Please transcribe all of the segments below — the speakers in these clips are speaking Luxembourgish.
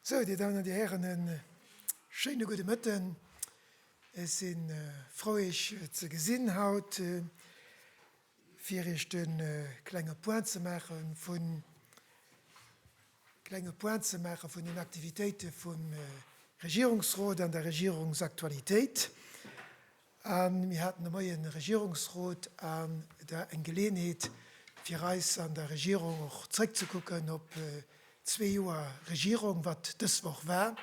Sou, Dir Damen an Dir Hären, e schéine gudde Mëtten. Ech si frou, Iech ze gesinn haut. Fir iech de klenge Point ze maache vun klenge Point ze maache vun den Aktivitéite vum Regierungsrot an der Regierungsaktualitéit. A mir haten de Moien e Regierungsrot an da eng Geleeënheet, fir eis an der Regierung och zréckzekucken op zwee Joer Regierung, wat dës Woch war.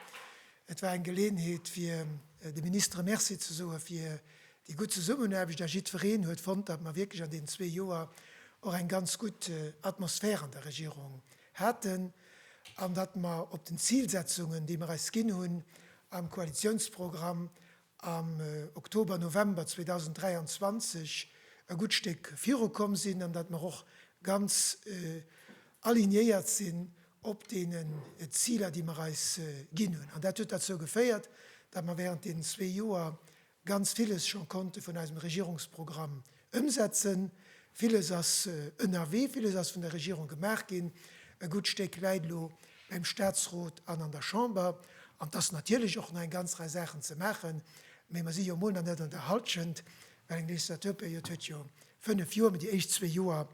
Et war eng Geleeënheet, fir de Ministere Merci ze soe fir Déi gutt Zesummenaarbecht a jiddwereen huet fonnt, datt mer wierklech an deenen zwee Joer och eng ganz gutt Atmosphär an der Regierung haten an datt mer op den Zilsetzungen, déi mer eis ginn hunn am Koalitionsprogramm am Oktober, November 2023, e gutt Stéck virukomm sinn an datt mer och ganz alignéiert sinn op deenen Ziler, déi mer eis ginn hunn. An dat huet derzou geféiert, datt mer während deenen zwee Joer ganz villes scho konnte vun eisem Regierungsprogramm ëmsetzen. Villes ass ënnerwee, villes ass vun der Regierung gemaach ginn, e gutt Stéck läit elo beim Statsrot an an der Chamber. An et ass natierlech och nach eng ganz Rei Saachen ze maachen, mä mer si jo emol nach net an der Hallschent, well eng Legislaturperiod huet jo fënnef Joer, mä déi éischt zwee Joer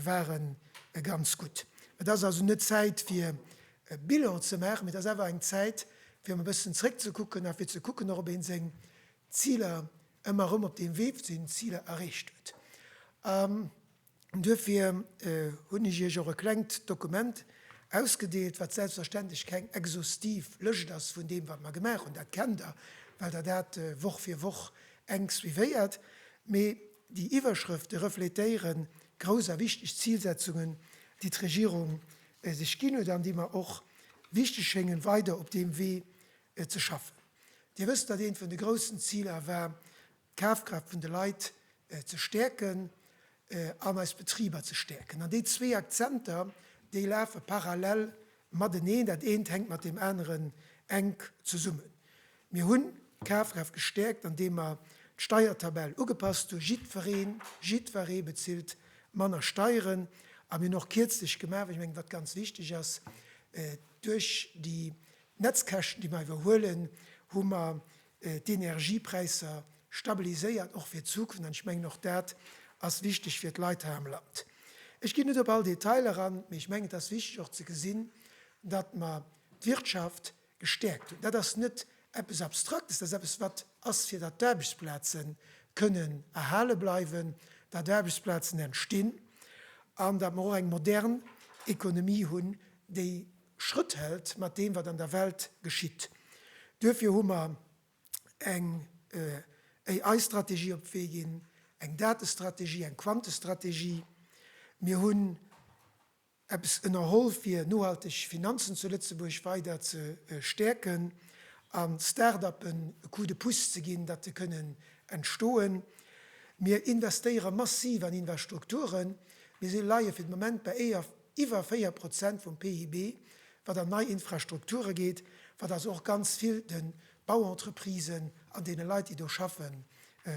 ware ganz gutt. Et ass also net d'Zäit, fir e Bilan ze maachen, mee et ass awer eng Zäit fir erëm e bëssen zréckzekucken a fir ze kucken och, ob ee seng Ziler ëmmer erëm op deem Wee vu sengen Ziler erreecht huet. An duerfir hunn ech Iech och e klengt Dokument ausgedeelt, wat selbstverständlech keng exhaustiv Lëscht ass vun deem, wat mer gemaach hunn, dat kennt Der, well Der dat Woch fir Woch enk suivéiert, mee déi Iwwerschrëfte reflétéiere grouss a wichteg Zilsetzungen, déi d'Regierung déi sech ginn huet an déi mer och wichteg schéngen, weider op deem Wee ze schaffen. Dir wësst, datt eent vun de groussen Ziler war, d'Kafkraaft vun de Leit ze stäerken an eis Betriber ze stäerken. An déi zwee Akzenter, déi lafe parallel mateneen, dat eent hänkt mat deem aneren enk zesummen. Mir hunn d'Kafkraaft gestäerkt an deem mer d'Steiertabell ugepasst hunn, jiddwereen, jiddweree bezilt manner Steieren a mir hunn och kierzlech gemaach, well ech mengen, wat ganz wichteg ass, duerch déi Netzkäschten, déi mer iwwerhuelen, hu mer d'Energiepräisser stabiliséiert, och fir d'Zukunft an ech mengen, och dat ass wichteg fir d'Leit hei am Land. Ech ginn net op all Detail eran, mee ech mengen, et ass wichteg och ze gesinn, datt mer d'Wirtschaft gestäerkt hunn. Dat ass net eppes Abstraktes, dat ass eppes, wat ass, fir datt d'Aarbechtsplaze kënnen erhale bleiwen, datt Aarbechtsplazen entstinn an datt mer och eng modern Ekonomie hunn, déi Schrëtt hält mat deem, wat an der Welt geschitt. Duerfir hu mer eng AI-Strategie op d'Wee ginn, eng Datestrategie, eng Quantestrategie. Mir hunn. eppes ënnerholl fir nohalteg Finanzen zu Lëtzebuerg weider ze stäerken a Start-upen e Coup de pouce ze ginn, datt se kënnen entstoen. Mir investéiere massiv an Invastrukturen, mir si leie fir de Moment bei iwwer 4 Prozent vum PIB, wat an nei Infrastrukture geet, wat also och ganz vill de Bauentreprisen an deene Leit, déi do schaffen,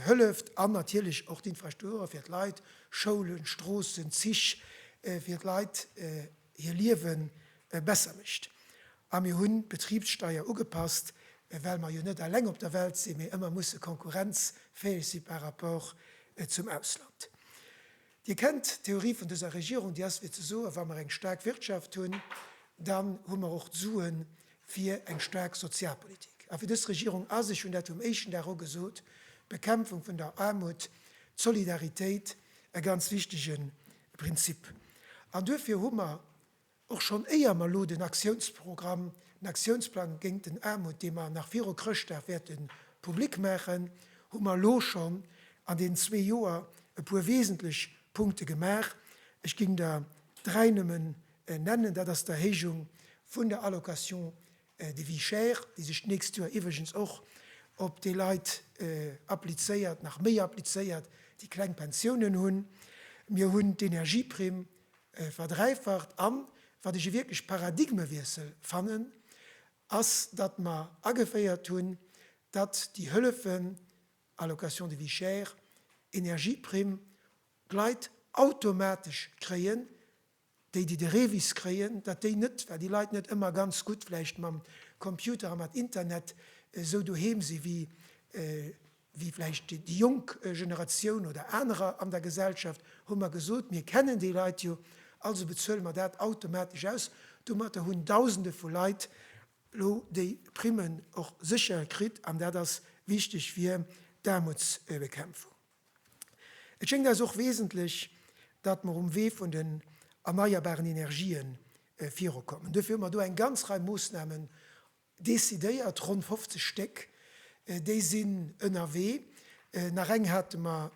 hëlleft an natierlech och d'Infrastrukture fir d'Leit, Schoulen, Stroossen, Zich, fir d'Leit hir Liewe besser mécht. A mir hunn d'Betribssteier ugepasst, well mer jo net eleng op der Welt sinn, mee ëmmer musse konkurrenzfäeg si par rapport zum Ausland. Dir kennt d'Theorie vun dëser Regierung, déi ass fir ze soen, wa mer eng staark Wirtschaft hunn, dann hu mer och d'Sue fir eng staark Sozialpolitik. A fir dës Regierung ass, ech hunn dat vum éischten Dag u gesot, d'Bekämpfung vun der Aarmut, d'Solidaritéit e ganz wichtege Prinzip. An duerfir hu mer Och schonn éier mer elo den Aktiounsprogramm, den Aktiounsplang géint den Aarmut, dee mer nach viru Chrëschtdag wäerte public maachen, hu mer elo schonn an deenen zwee Joer e puer wesentlech Punkte gemaach. Ech géing der dräi nëmmen nennen, Dat ass d'Erhéijung vun der Allocation De Vie chère, déi sech d'nächst Joer iwwregens och op déi Leit applizéiert, nach méi applizéiert, déi kleng Pensiounen hunn. Mir hunn d'Energieprimm verdräifacht. An wat ech e wierklech Paradigmewiessel fannen, ass, datt mer ageféiert hunn, datt déi Hëllefen, Allocation de vie chère, Energieprimm, d'Leit automatesch kréien, Déi, déi de Revis kréien, datt déi net, well déi Leit net ëmmer ganz gutt vläicht mam Computer a mat Internet esou doheem si wéi wéi vläicht déi jonk Generatioun oder anerer an der Gesellschaft, hu mer gesot, mir kennen déi Leit jo, also bezuele mer dat automatesch aus. Domatter hunn Dausende vu Leit elo déi Primmen och sécher kritt an dat ass wichteg fir d'Aarmutsbekämpfung. Et schéngt eis och wesentlech, datt mer um Wee vun den erneierbaren Energien virukommen. Duerfir hu mer do eng ganz Rei Moossnamen decidéiert, ronn 50 Stéck, déi sinn ënnerwee. Nach eng hate mer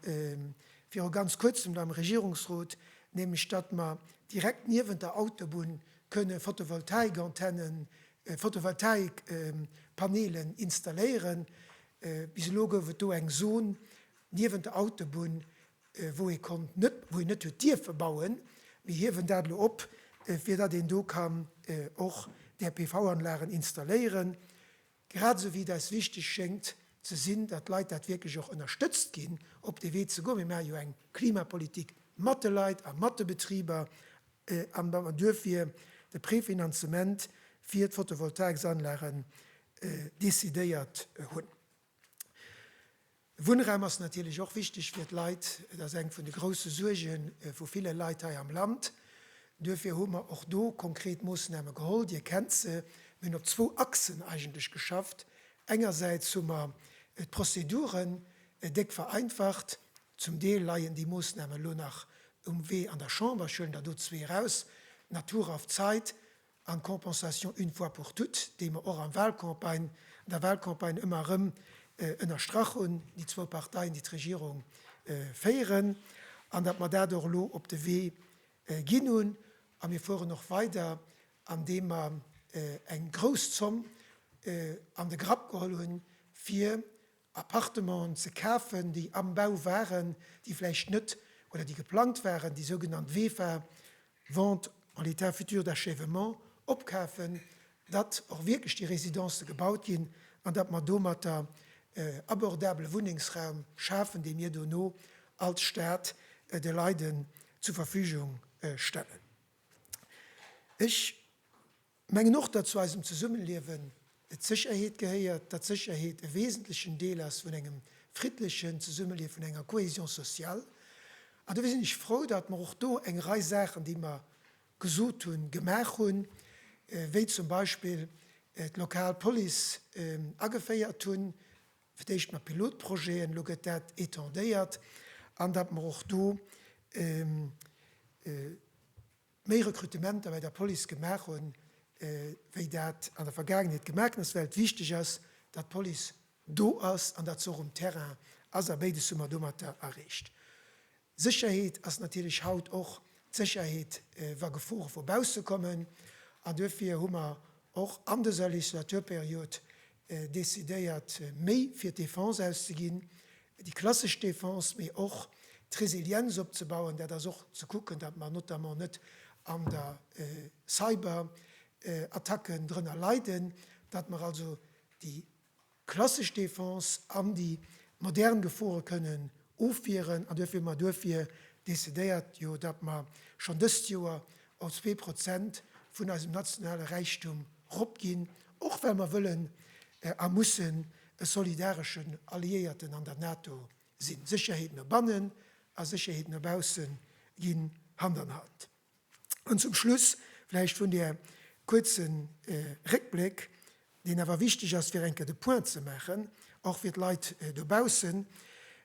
viru ganz Kuerzem do am Regierungsrot, nämlech datt mer direkt niewent der Autobunn kënne Photovoltaikantennen, Photovoltaikpanelen installéieren. Bis elo gouf et do eng Zon niewent der Autobunn, wou ee konnt net, wou een net huet dierfe bauen. Mir hiewen dat elo op, fir datt een do kann och där PV-Anlagen installéieren. Grad esou wéi et eis wichteg schéngt ze sinn, datt d'Leit dat wierklech och ënnerstëtzt ginn, op dee Wee ze goen. Mir maache jo eng Klimapolitik mat de Leit a mat de Betriber. an duerfir de Préfinanzement fir d'Photovoltaïques-Anlagen décidéiert hunn. Wunnraum ass natierlech och wichteg fir d'Leit. Et ass eng vun de grousse Suerge vu ville Leit hei am Land. Duerfir hu mer och do konkret Moosname geholl. Dir kennt se. Mir hunn op zwou Achsen eigentlech geschafft. Engersäits hu mer d'Prozeduren déck vereinfacht, Zum Deel leien déi Moossnamen elo nach um Wee an der Chamber. Ech huelen der do zwee eraus, Natur auf Zeit an Compensation une fois pour toutes, déi mer och am Wahlcampagne, an der Wahlcampagne ëmmer erëm ënnerstrach hunn, déi zwou Parteien, déi d'Regierung féieren, an datt mer dat och elo op de Wee ginn hunn. A mir fueren och weider, andeem mer eng grouss Zomm an de Grapp geholl hunn, fir Appartementen ze kafen, déi am Bau waren, déi vläicht net oder déi geplangt waren, déi sougenannt VEFA, Vente en état futur d'achèvement, opkafen, datt och wierklech déi Residencë gebaut ginn an datt mer domatter abordabele Wunnengsraum schafen, dee mir dono als Stat de Leiden zur Verfügung stellen. Ech. Mengen och, datt zu eisem Zesummeliewen d'Sécherheet gehéiert, datt d'Sécherheet e wesentlechen Deel ass vun engem friddlechen Zesummelief, vun enger Cohésion sociale. An dofir sinn ech frou, datt mer och do eng Rei Saachen, déi mer gesot hunn, gemaach hunn, wéi zum Beispill d'lokal Police ageféiert hunn, fir d'éischt mat Pilotprojeten, elo gëtt dat étendéiert, an datt mer och do méi Rekrutementer bei der Police gemaach hunn, wéi dat an der Vergaangenheet gemaach ginn ass, well et wichteg ass, datt d'Police do ass an datt se och um Terrain ass. A béides hu mer domatter erreecht. Sécherheet ass natierlech haut och d'Sécherheet, wa Gefore vu bausse kommen. An duerfir hu mer och an dëser Legislaturperiod decidéiert méi fir d'Defense auszeginn, déi klassesch Defense, mee och d'Resilienz opzebauen. Dat ass och ze kucken, datt mer notamment net an der Cyberattacken drënner leiden, datt mer also déi klassesch Defense an déi modern Gefore kënnen Ofwieren an duerfir hu mer duerfir decidéiert, jo, datt mer schonn dëst Joer op zwee Prozent vun eisem nationale Räichtum ropginn, och well mer wëllen a mussen e solidareschen Alliéierten an der NATO sinn. Sécherheet no bannen a Sécherheet no bausse ginn Hand an Hand. An zum Schluss vläicht vun där kuerze Réckbléck, deen awer wichteg ass, fir eng Kéier de Point ze maachen, och fir d'Leit dobaussen,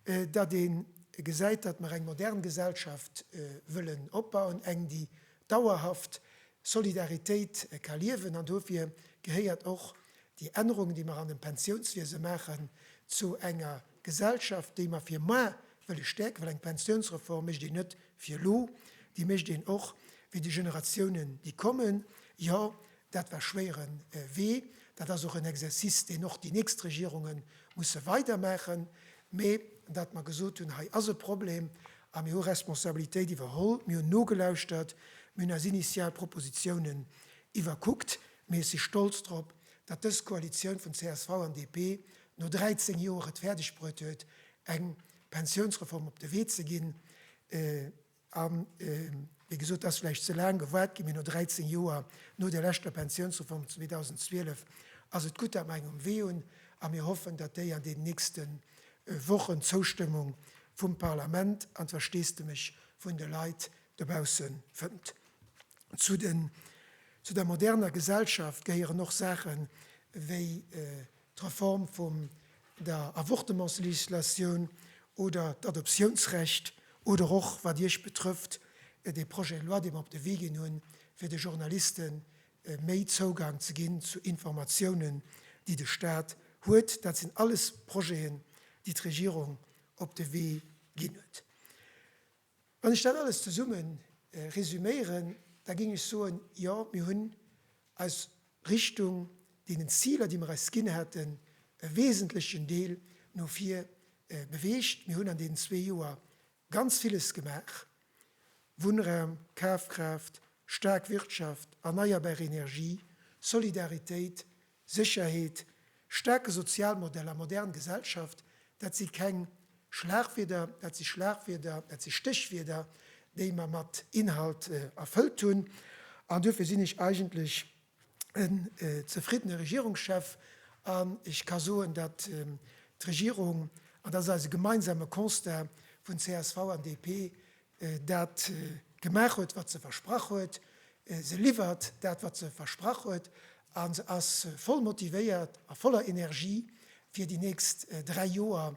datt ee gesäit, datt mer eng modern Gesellschaft wëllen opbauen, eng, déi dauerhaft Solidaritéit ka liewen. An dofir gehéiert och déi Ännerungen, déi mer an dem Pensiounswiese maachen, zu enger, D'Gesellschaft, déi mer fir moar wëlle stäerken, well eng Pensiounsreform mécht een net fir elo, déi mécht een och fir déi Generatiounen, déi kommen. Jo, dat war schwéiere Wee, dat ass och en Exercice, deen och déi nächst Regierunge musse weidermaachen, mee datt mer gesot hunn, hei ass e Problem a mir hu Responsabilitéit iwwerholl, mir hunn nogelauschtert, mir hunn eis initial Propositionen iwwerkuckt, mee ech si stolz drop, datt dës Koalitioun vun csv an DP no 13 Joer et fäerdeg bruet huet, eng Pensiounsreform op de Wee ze ginn. A wéi gesot, et ass vläicht ze laang gewaart ginn, mee no 13 Joer, no der leschter Pensiounsreform 2012, ass et gutt, datt mer eng um Wee hunn. A mir hoffen, datt déi an deenen nächste Wochen d'Zoustëmmung vum Parlament an d'Versteesdemech vun de Leit dobausse fënnt. Zu der moderner Gesellschaft gehéieren och Saachen, wéi d'Reform vum der Avortementslegislatioun oder d'Adoptiounsrecht oder och, wat Iech betrëfft, dee Projet de loi, dee mer op de Wee ginn hunn, fir de Journaliste méi Zougang ze ginn zu Informatiounen, déi de Stat huet. Dat sinn alles Projeten, déi d'Regierung op de Wee ginn huet. Wann ech dat alles zesumme resüméieren, da géing ech soen, Jo, mir hunn eis Richtung deenen Ziler, déi mir eis ginn haten, e wesentlechen Deel no vir beweegt. Mir hunn an deenen zwee Joer ganz villes gemaach, Wunnraum, Kafkraaft, staark Wirtschaft, erneierbar Energie, Solidaritéit, Sécherheet, staarke Sozialmodell a modern Gesellschaft, dat si keng Schlagwierder, dat si Schlagwierder, dat si Stéchwierder, déi mer mat Inhalt erfëllt hunn. An duerfir sinn ech eigentlech en zefriddene Regierungschef an ech ka soen, datt d'Regierung, an dat ass eise gemeinsame Constat vun csv an DP, dat gemaach huet, wat se versprach huet, se liwwert dat, wat se versprach huet, a se ass voll motivéiert a voller Energie, fir déi nächst dräi Joer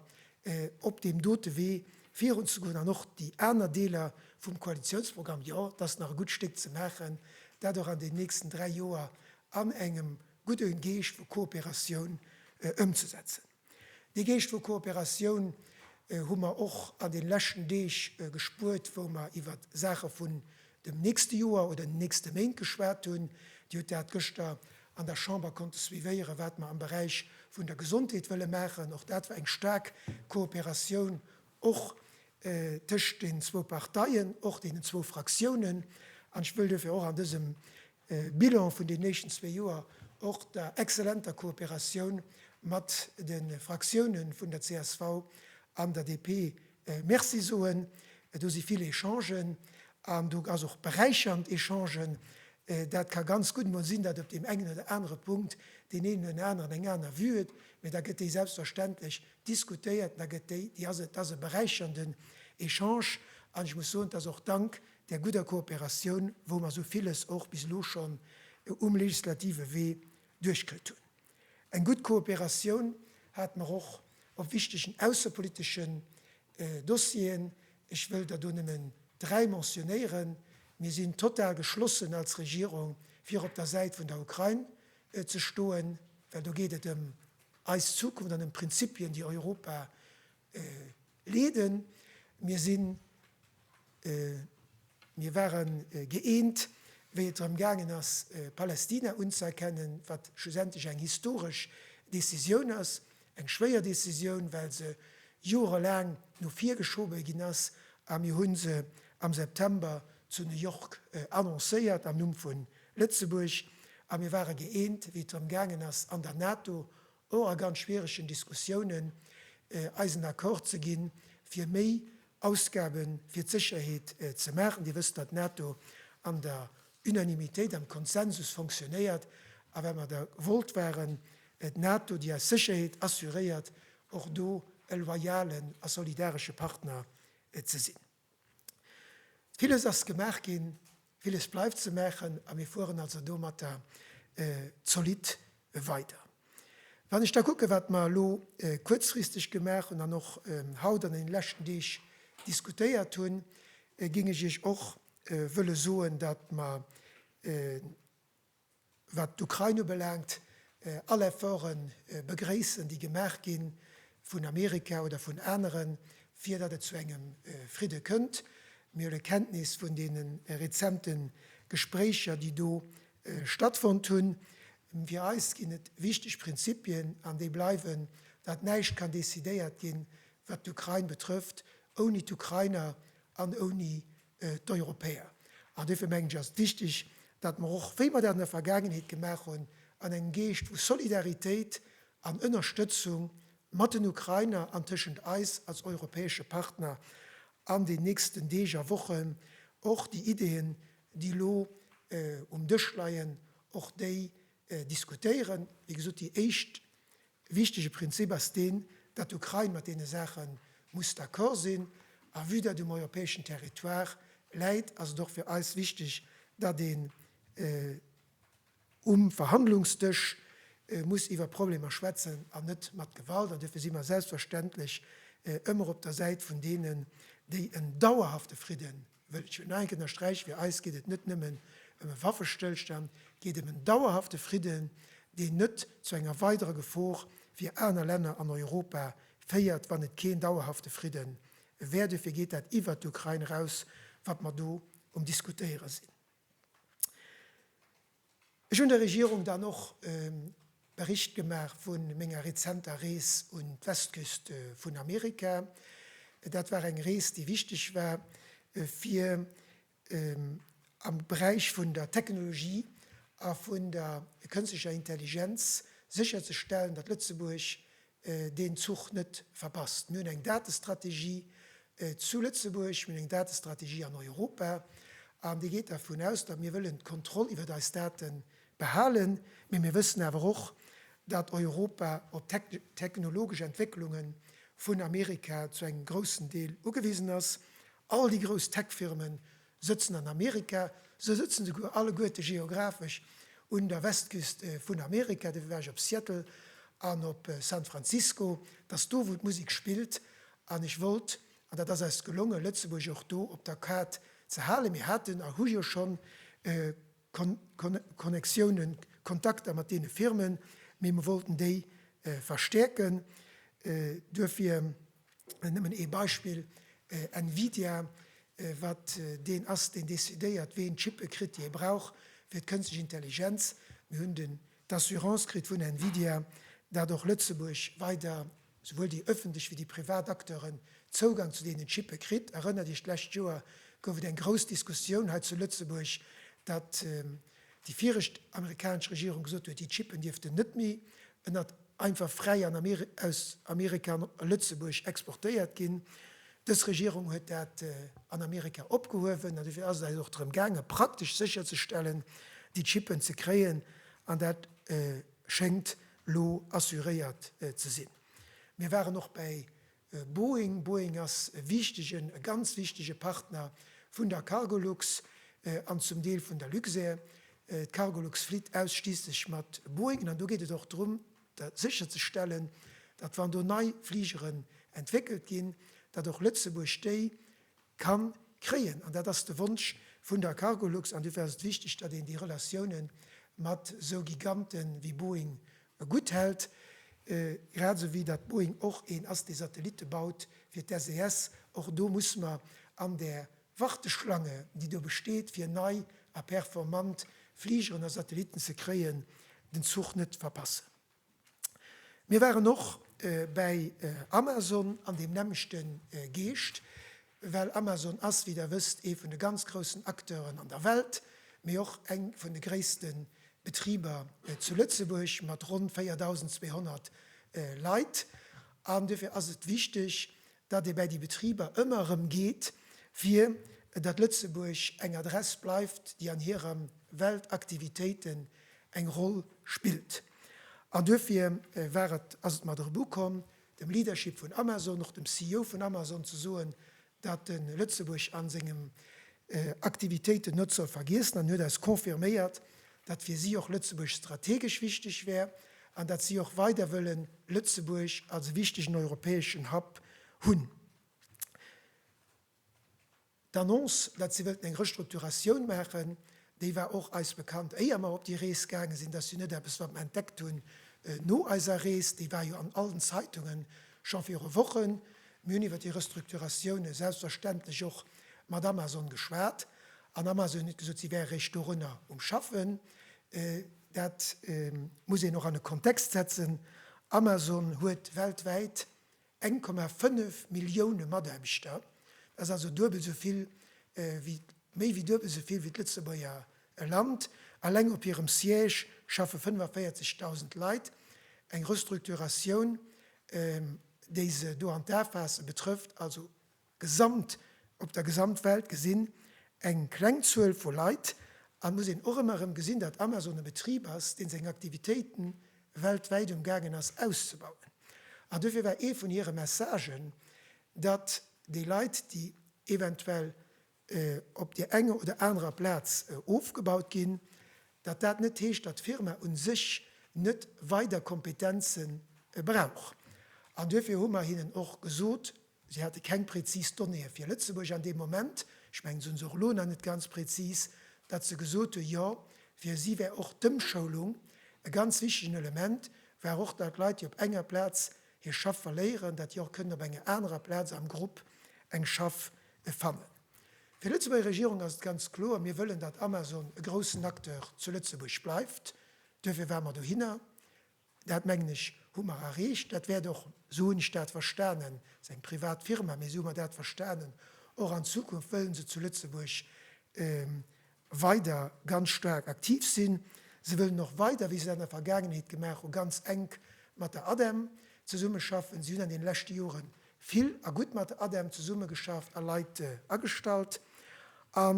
op deem dote Wee virunzegoen an och déi aner Deeler vum Koalitiounsprogramm, jo, et ass nach e gutt Stéck ze maachen, dat och an deenen nächsten dräi Joer an engem gudde Geescht vu Kooperatioun ëmzesetzen. Dee Geescht vu Kooperatioun hu mer och an de leschten Deeg gespuert, wou mer iwwer Saache vun dem nächste Joer oder den nächste Méint geschwat hunn. Dir hutt dat gëschter an der Chamber konnte suivéieren, wat mer am Beräich vun der Gesondheet wëlle maachen. Och dat war eng staark Kooperatioun, och tëscht deenen zwou Parteien, och deenen zwou Fraktiounen. An ech wëll duerfir och an dësem E Bilan vun den éischten zwee Joer, och der exzellenter Kooperatioun mat de Fraktiounen vun der csv an der DP Merci soen. Do si vill Echangen an do ass och beräichernd Echangen. Dat ka ganz gutt emol sinn, datt op deem engen oder anere Punkt deen een oder den aneren eng aner Vue huet, mä da gëtt déi selbstverständlech diskutéiert an da gëtt déi, déi ass et. Dat ass e beräichernden Echange an ech muss soen, et ass och dank där gudder Kooperatioun, wou mer esou villes och bis elo schonn um legislative Wee duerchkritt hunn. Eng gutt Kooperatioun hate mer och op wichtegen aussepoliteschen Dossieren. Ech wëll der do nëmmen dräi mentionéieren. Mir sinn total geschlossen als Regierung, fir op der Säit vun der Ukrain ze stoen, well do geet et ëm eis Zukunft an ëm Prinzipien, déi Europa Leeden. Mir sinn, mir ware gëeent, wéi et drëm gaangen ass, Palästina unzëerkennen, wat schlussendlech eng historesch Decisioun ass, eng schwéier Decisioun, well se joerelaang no vir geschobe ginn ass, a mir hu se am September zu New York annoncéiert am Numm vu Lëtzebuerg. A mir ware gëeent, wéi et drëm gaangen ass, an der NATO och a ganz schwieregen Diskussiounen, eisen Accord ze gi fir méi Ausgabe fir d'Sécherheet ze maachen. Dir wësst, datt d'NATO an der Unanimitéit, am Konsensus fonctionnéiert, a well mer der gewollt waren, d'NATO, déi eis Sécherheet assuréiert, och do e loyalen a solidaresche Partner ze sinn. Villes ass gemaach ginn, villes bleift ze maachen a mir fueren also domatter zolidd weider. Wann ech da kucken, wat mer elo kuerzfristeg gemaach hunn an och haut an deene leschten Deeg diskutéiert hunn, géing ech Iech och wëlle soen, datt mer wat d'Ukrain ubelaangt, all Efforte begréissen, déi gemaach gi vun Amerika oder vun aneren, fir datt et zu engem Fridde kënnt. Mir huele Kenntnis vun deene rezente Gespréicher, déi do stattfonnt hunn. Fir eis ginn et wichteg Prinzipien, an déi bleiwen, datt näischt kann decidéiert ginn, wat d'Ukrain betrëfft, ouni d'Ukrainer an ouni d'Europäer. An duerfir mengen ech, ass et wichtig, datt mer och, wéi mer dat an der Vergaangenheet gemaach hunn, an engem Geescht vu Solidaritéit an Ënnerstëtzung mat den Ukrainer an tëschent eis als europäesche Partner an den nächsten Deeg a Wochen och déi Ideen, déi elo um Dësch leien, och déi diskutéieren. Wéi gesot, déi éischt E wichtege Prinzip ass deen, datt d'Ukrain mat deene Saache muss d'accord sinn. A vue dat um europäeschen Territoire läit, ass et och fir eis wichteg, datt een um Verhandlungsdësch muss iwwer Problemer schwätzen an net mat Gewalt. An duerfir si mer selbstverständlech ëmmer op der Säit vun deenen, déi en dauerhafte Fridden, Wëll ech jo nach eng Kéier ënnersträichen, fir eis geet et net nëmmen ëm e Waffestëllstand, et geet ëm en dauerhafte Fridden, deen net zu enger weiderer Gefor fir aner Länner an Europa féiert, wann et keen dauerhafte Fridde wär. Duerfir geet dat iwwert d'Ukrain eraus, wat mer do um Diskutéiere sinn. Ech hunn der Regierung dann och e Bericht gemaach vu menger rezenter Rees un d'Westküst vun Amerika. Dat war eng Rees, déi wichteg war, fir am Beräich vun der Technologie a vun der kënstlecher Intelligenz sécherzestellen, datt Lëtzebuerg deen Zuch net verpasst. Mir hunn eng Datestrategie zu Lëtzebuerg, mir hunn eng Datestrategie an Europa, an déi geet dervun aus, datt mir wëllen d'Kontroll iwwert eis Date behalen, mee mir wëssen awer och, datt Europa op d'technologesch Entwécklunge vun Amerika zu engem groussen Deel ugewisen ass. All déi grouss Tech-Firme sëtzen an Amerika, se sëtzen souguer alleguerte geographesch un der Westküst vun Amerika, dofir war ech op Seattle an op San Francisco, et ass do wou d'Musek spillt an ech wollt, an dat ass eis gelongen, Lëtzebuerg och do op der Kaart ze halen. Mir haten a hu jo schonn Connectiounen, Kontakter mat deene Firmen, mee mer wollten déi verstäerken, duerfir. Nëmmen ee Beispill, Nvidia, wat deen ass, deen decidéiert, ween d'Chippe kritt, déi e brauch fir d'Kënstlech Intelligenz. Mir hunn den d'Assurance kritt vun Nvidia, dat och Lëtzebuerg weider, souwuel déi ëffentlech wéi déi privat Acteuren, Zougang zu deenen Chippe kritt. Erënnert Iech, d'lescht Joer gouf et eng grouss Diskussioun hei zu Lëtzebuerg, datt déi viregt amerikanesch Regierung gesot huet, déi Chippen dierften net méi ënnert einfach fräi an aus Amerika an Lëtzebuerg exportéiert ginn. Dës Regierung huet dat an Amerika opgehuewen an dofir ass et eis och drëm gaange praktesch sécherzestellen, déi Chippen ze kréien an dat schéngt elo assuréiert ze sinn. Mir waren och bäi Boeing, Boeing ass e wichtegen, e ganz wichtege Partner vun der Cargolux an zum Deel vun der Luxair. D'Cargolux flitt ausschliisslech mat Boeingen an do geet et och drëm sécherzestellen, datt wann do nei Fligeren entwéckelt ginn, datt och Lëtzebuerg déi ka kréien. An dat ass de Wonsch vun der Cargolux an dofir ass et wichteg, datt een déi Relatioune mat esou Giganten ewéi Boeing e gutt hält, grad esou wéi datt Boeing och een ass, dee Satellitte baut fir d'SES. Och do muss mer an där Warteschlange, déi do besteet, fir nei a performant Fligeren a Satellitten ze kréien, den Zuch net verpassen. Mir waren och bäi Amazon an deem nämmlechte Geescht. Well Amazon ass, wéi der wësst, ee vun de ganz groussen Acteuren an der Welt, mee och eng vun de gréisste Betriber zu Lëtzebuerg mat ronn 4.200 Leit. An duerfir ass et wichteg, datt ee bäi déi Betriber ëmmer erëm geet, fir datt Lëtzebuerg eng Adress bleift, déi an hire Weltaktivitéiten eng Roll spillt. An duerfir war et, ass et mat erëm ukomm, dem Leadership vun Amazon, och dem CEO vun Amazon ze soen, datt e Lëtzebuerg a sengen Aktivitéiten net soll vergiessen an huet eis confirméiert, datt fir si och Lëtzebuerg strategesch wichteg wär an datt si och weider wëllen Lëtzebuerg als e wichtegen europäeschen Hub hunn. D'Annonce, datt si wëllten eng Restrukturatioun maachen, déi war och eis bekannt, éier mer op déi Rees gaange sinn. Dat ass jo net eppes, wat mer entdeckt hunn no eiser Rees. Déi war jo an allen Zeitungen scho viru Wochen. Mir hunn iwwer déi Restrukturatioun selbstverständlech och mat Amazon geschwat an Amazon huet gesot, si wäre réischt dorunner um Schaffen. Dat muss een och an e Kontext setzen. Amazon huet weltwäit 1,5 Millioune Mataarbechter, dat ass also duebel esou vill wéi, méi wéi duebel esou vill wéi d'Lëtzebuerger Land. Alleng op hirem Siège schaffe 45.000 Leit. Eng Restrukturatioun, déi se do an d'A faasse, betrëfft also Gesamt, op der Gesamtwelt gesinn, eng kleng Zuel vu Leit. A muss een och ëmmer erëm gesinn, datt Amazon e Betrib ass, dee seng Aktivitéite weltwäit um gaangen ass auszebauen. An dofir war ee vun hire Messagen, datt déi Leit, déi eventuell op där enger oder anerer Plaz ofgebaut ginn, datt dat net heescht, datt d'Firma u sech net weider Kompetenze brauch. An duerfir hu mer hinnen och gesot, Si hate keng prezis Donnéeë fir Lëtzebuerg an deem Moment, ech mengen, se hunn se och elo nach net ganz prezis, datt se gesot hunn, jo, fir si wär och d'Ëmschoulung e ganz wichtegen Element, war och, datt Leit, déi op enger Plaz hir Schaff verléieren, datt déi och kënnen op enger anerer Plaz am Grupp eng Schaff fannen. Fir d'Lëtzebuerger Regierung ass et ganz kloer, Mir wëllen, datt Amazon e groussen Acteur zu Lëtzebuerg bleift. Duerfir ware mer dohinner. Dat, mengen ech, hu mer erreecht. Dat wäert och, esou hunn ech dat verstanen, et ass eng privat Firma, mee esou hu mer dat verstanen, och an Zukunft wëllen se zu Lëtzebuerg weider ganz staark aktiv sinn. Se wëllen och weider, wéi se dat an der Vergaangenheet gemaach hu, ganz enk mat der ADEM zesummeschaffen. Si hunn an deene leschte Jore vill a gutt mat der ADEM zesummegeschafft a Leit agestallt. A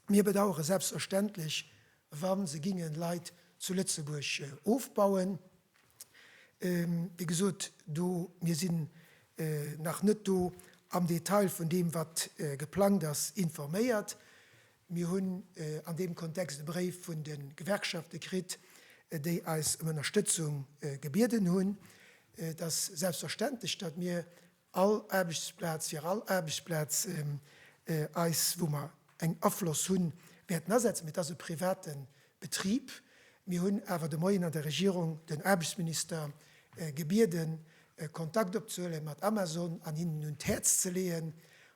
mir bedauere selbstverständlech, wa se gingen Leit zu Lëtzebuerg ofbauen. Wéi gesot, do, mir sinn nach net do am Detail vun deem wat geplangt ass informéiert. Mir hunn an deem Kontext e Bréif vun de Gewerkschafte kritt, déi eis ëm Ënnerstëtzung gebieden hunn. Et ass selbstverständlech, datt mir All Aarbechtsplaz fir all Aarbechtsplaz eis, wou mer eng Afloss hunn, wäerten asetzen. Mee et ass e private Betrib. Mir hunn awer de Moien an der Regierung den Aarbechtsminister gebieden, Kontakt opzehuele mat Amazon an hinnen un d'Häerz ze leeën,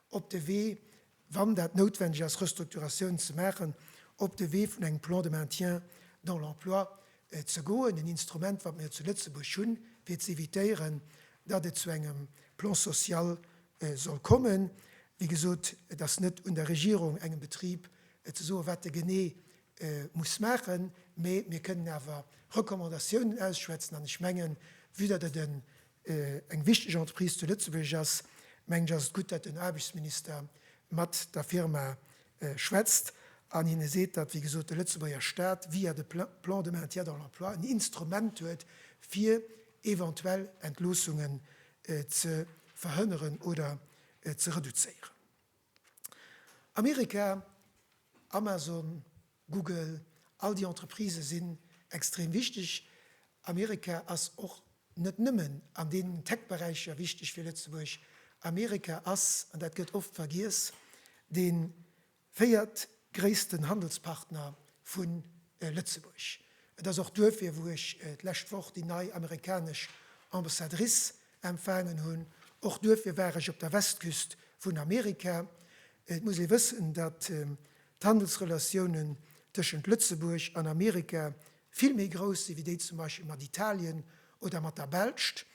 op de Wee wann dat noutwendeg ass, Restrukturatiounen ze maachen, op de Wee vun engem Plan de maintien dans l'emploi ze goen, en Instrument, wat mer jo zu Lëtzebuerg hunn, fir ze évitéieren, datt et zu engem Plan social soll kommen. Wéi gesot, et ass net un der Regierung, engem Betrib ze soen, wat e genee muss maachen, mä mir kënnen awer Recommandatiounen ausschwätzen. An ech mengen, vue datt et e eng wichteg Entreprise zu Lëtzebuerg ass, mengen ech, ass et gutt, datt den Aarbechtsminister mat der Firma schwätzt an hinne seet, datt, wéi gesot, de Lëtzebuerger Staat via de Plan de maintien dans l'emploi en Instrument huet, fir eventuell Entloossungen ze verhënneren oder ze reduzéieren. Amerika, Amazon, Google, all déi Entreprisë sinn extrem wichteg. Amerika ass och net nëmmen an deenen Tech-Beräicher wichteg fir Lëtzebuerg. Amerika ass, an dat gëtt oft vergiess, de véiertgréissten Handelspartner vu Lëtzebuerg. Et ass och duerfir, wou ech d'lescht Woch déi nei amerikanesch Ambassadrice Empfaangen hunn. Och duerfir war ech op der Westküst vun Amerika. Et muss ee wëssen, datt d'Handelsrelatiounen tëschent Lëtzebuerg an Amerika vill méi grouss si wéi déi zum Beispill mat Italien oder mat der Belscht.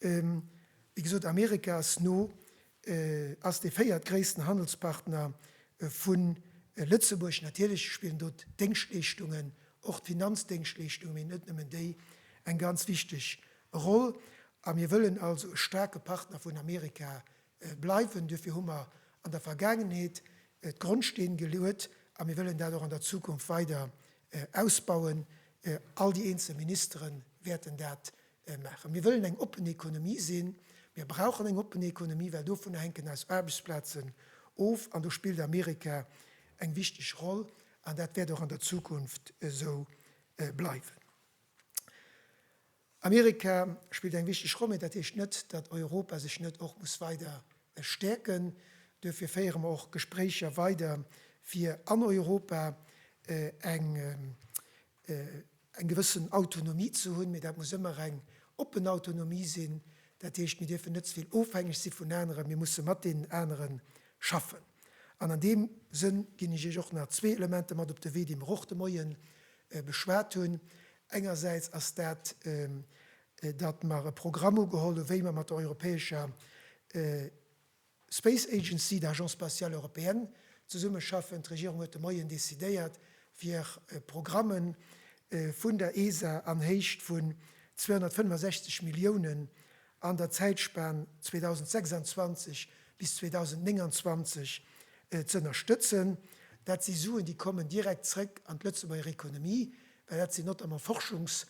Wéi gesot, Amerika ass no ass dee véiertgréissten Handelspartner vu Lëtzebuerg. Natierlech spillen do d'Déngschtleeschtungen, och d'Finanzdéngschtleeschtungen, mee net nëmmen déi, eng ganz wichteg Roll. A mir wëllen also e staarke Partner vun Amerika bleiwen. Duerfir hu mer an der Vergaangenheet d'Grondsteen geluet a mir wëllen dat och an der Zukunft weider ausbauen. All déi eenzel Ministere wäerten dat maachen. Mir wëllen eng oppen Ekonomie sinn. Mir brauchen eng oppen Ekonomie, well dovunner hänken eis Aarbechtsplazen of an do spillt Amerika eng wichteg Roll an dat wäert och an der Zukunft esou bleiwen. Amerika spillt eng wichteg Roll, mä dat heescht net, datt Europa sech net och muss weider stäerken. Duerfir féiere mer och Gespréicher weider, fir an Europa eng eng gewëssen Autonomie ze hunn, mee dat muss ëmmer eng oppen Autonomie sinn. Dat heescht, mir dierfen net ze vill ofhängeg si vun aneren, mir musse mat deenen anere schaffen. An an deem Sënn ginn ech Iech och nach zwee Elementer mat op de Wee, déi mer och de Moie beschwat hunn. Engersäits ass dat, datt mer e Programm ugeholl hu wéi mer mat der europäescher Space Agency, d'Agence spatiale européenne, zesummeschaffen. D'Regierung huet de Moien decidéiert, fir Programme vun der ESA an Héicht vun 265 Milliounen an der Zäitspan 2026 bis 2029 z'ënnerstëtzen. Dat si Suen, déi kommen direkt zréck an d'Lëtzebuerger Economie, well dat sinn notamment Forschungs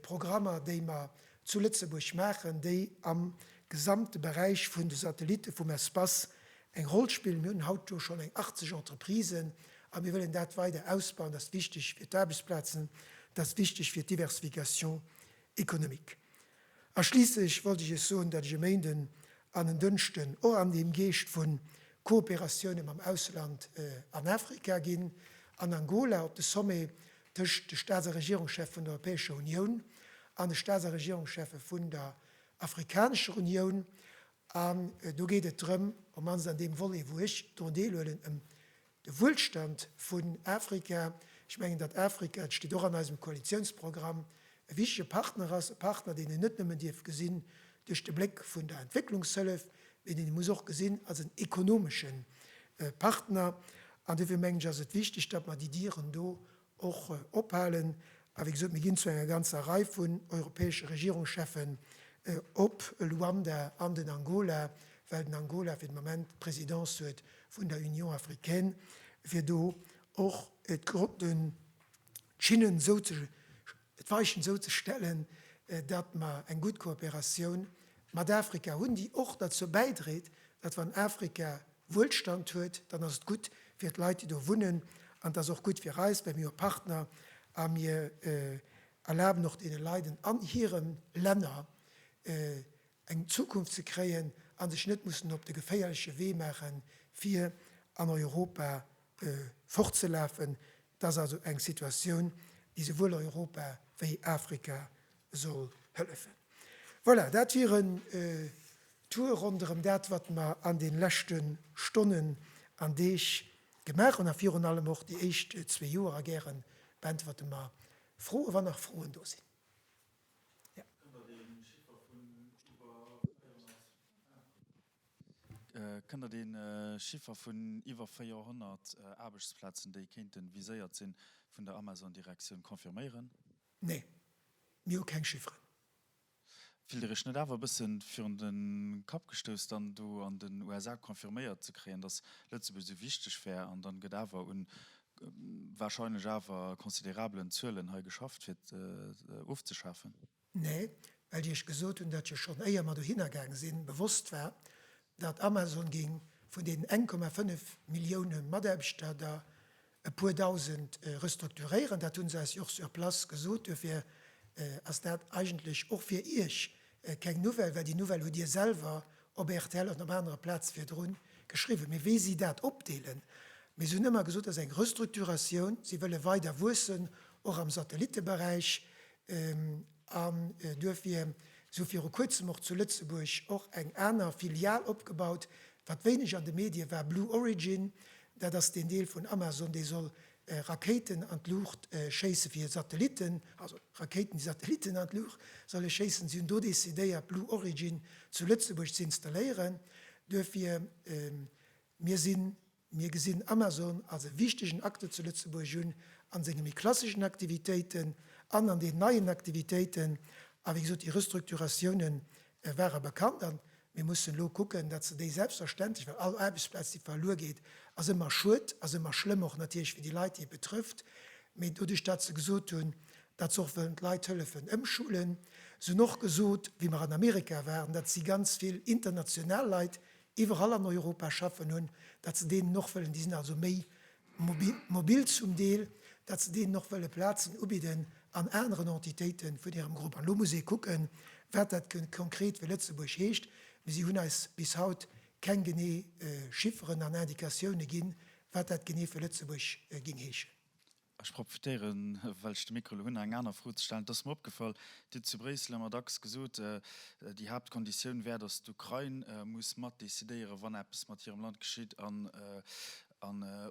Programmer, déi mer zu Lëtzebuerg maachen, déi am gesamte Beräich vun de Satellitte vum Espace eng Roll spillen. Mir hunn haut do schonn eng 80 Entreprisen a mir wëllen dat weider ausbauen. Dat ass wichteg fir d'Aarbechtsplazen, dat ass wichteg fir d'Diversification économique. A schliisslech wollt ech Iech soen, datt ech e Méinden an en Dënschden och an deem Geescht vu Kooperatioune mam Ausland an Afrika ginn, an Angola op de Sommet tëscht de Staats a Regierungschef vun der Europäescher Unioun an de Staats a Regierungschefe vun der Afrikanescher Unioun. An do geet et drëm, op d'mannst an deem Volet, wou ech drun deelhuelen, ëm de Wuelstand vun Afrika. Ech mengen, datt Afrika, et steet och an eisem Koalitiounsprogramm, E wichtege Partner ass e Partner, deen een net nëmmen dierf gesinn duerch de Bléck vun der Entwécklungshëllef, mee deen ee muss och gesinn als en ekonomesche Partner. An dofir mengen ech, ass et wichteg, datt mer déi Dieren do och ophalen. A wéi gesot, mir ginn zu enger ganzer Rei vun europäesche Regierungscheffen op Luanda an den Angola, well den Angola fir de Moment d'Présidence huet vun der Union africaine, fir do och de. d'Schinnen esou ze, d'Weichen esou ze stellen, datt mer eng gutt Kooperatioun mat Afrika hunn, déi och derzou bäidréit, datt wann Afrika Wuelstand huet, dann ass et gutt fir d'Leit, déi do wunnen, an et ass och gutt fir eis, well mir hu Partner a mir erlaben och deene Leit an hire Länner eng Zukunft ze kréien a sech net mussen op de geféierleche Wee maache fir an Europa fortzelafen. Et ass also eng Situatioun, déi souwuel Europa wéi Afrika soll hëllefen. Voilà, dat wier en Tour ronderëm dat, wat mer an de leschte Stonnen an Deeg gemaach hunn, a virun allem och déi éischt zwee Joer. A gäre beäntwerte mer Froen, wann nach Froen do sinn. Kënnt Der dee Chiffer vun iwwer 400 Aarbechtsplazen, déi kéinte viséiert sinn, vun der Amazon-Direktioun confirméieren? Nee, mir hu keng Chifferen. Fillt Dir Iech net awer e bësse virun de Kapp gestouss, dann do an den USA confirméiert ze kréien, datt Lëtzebuerg esou wichteg wär, an dann gëtt awer un warscheinlech awer considerabelen Zuelen hei geschafft, fir et ofzeschafen? Nee, well Dir Iech gesot hunn, datt Dir schonn éier mer dohinner gaang sinn, bewosst war, datt Amazon géing vun deenen 1,5 Millioune Mataarbechter der e puer Dausend restrukturéieren. Dat hu se eis jo och sur place gesot. Duerfir ass dat eigentlech och fir Iech keng Nouvelle, well déi Nouvelle hutt Dir selwer op rtl an op anere Plaze virdru geschriwwen. Mee wéi si dat opdeelen, mee se hunn ëmmer gesot, dat ass eng Restrukturatioun, si wëlle weider wuessen, och am Satellitteberäich, An et huet fir esou viru kuerzem och zu Lëtzebuerg och eng aner Filial opgebaut, wat wéineg an de Medie war, Blue Origin, dat ass deen Deel vun Amazon, dee soll Rakéiten an d'Luucht schéisse fir Satellitten, also Rakéiten, déi Satellitten an d'Luucht solle schéissen. Si hunn do decidéiert Blue Origin zu Lëtzebuerg ze installéieren. Duerfir mir sinn. Mir gesinn Amazon als e wichtegen Acteur zu Lëtzebuerg un, a senge méi klasseschen Aktivitéiten an an den neien Aktivitéiten. A wéi gesot, déi Restrukturatioune ware bekannt a mir mussen elo kucken, datt se déi selbstverständlech, well all Aarbechtsplaz, déi verluer geet, ass ëmmer Schued, ass ëmmer schlëmm och natierlech fir déi Leit, déi et betrëfft, mee doduerch datt se gesot hunn, datt se och wëllen d'Leit hëllefen ëmschulen. Se hunn och gesot, wéi mer an Amerika waren, datt si ganz vill international Leit iwwerall an Europa schaffen hunn, dat se deenen och wëllen, déi sinn also méi mobil zum Deel, dat se deenen och wëlle Plazen ubidden an aneren Entitéiten vun hirem Grupp. An elo muss ee kucken, wat dat konkret fir Lëtzebuerg heescht. Mee si hunn eis bis haut keng genee Chifferen an Indicatioune ginn, wat dat genee fir Lëtzebuerg géing heeschen. Ech profitéieren, well ech de Mikro elo hunn, eng aner Fro ze stellen. Et ass mer opgefall, Dir hutt zu Bréissel ëmmer dacks gesot, déi Haaptkonditioun wär, datt d'Ukrain muss mat decidéieren, wann eppes mat hirem Land geschitt an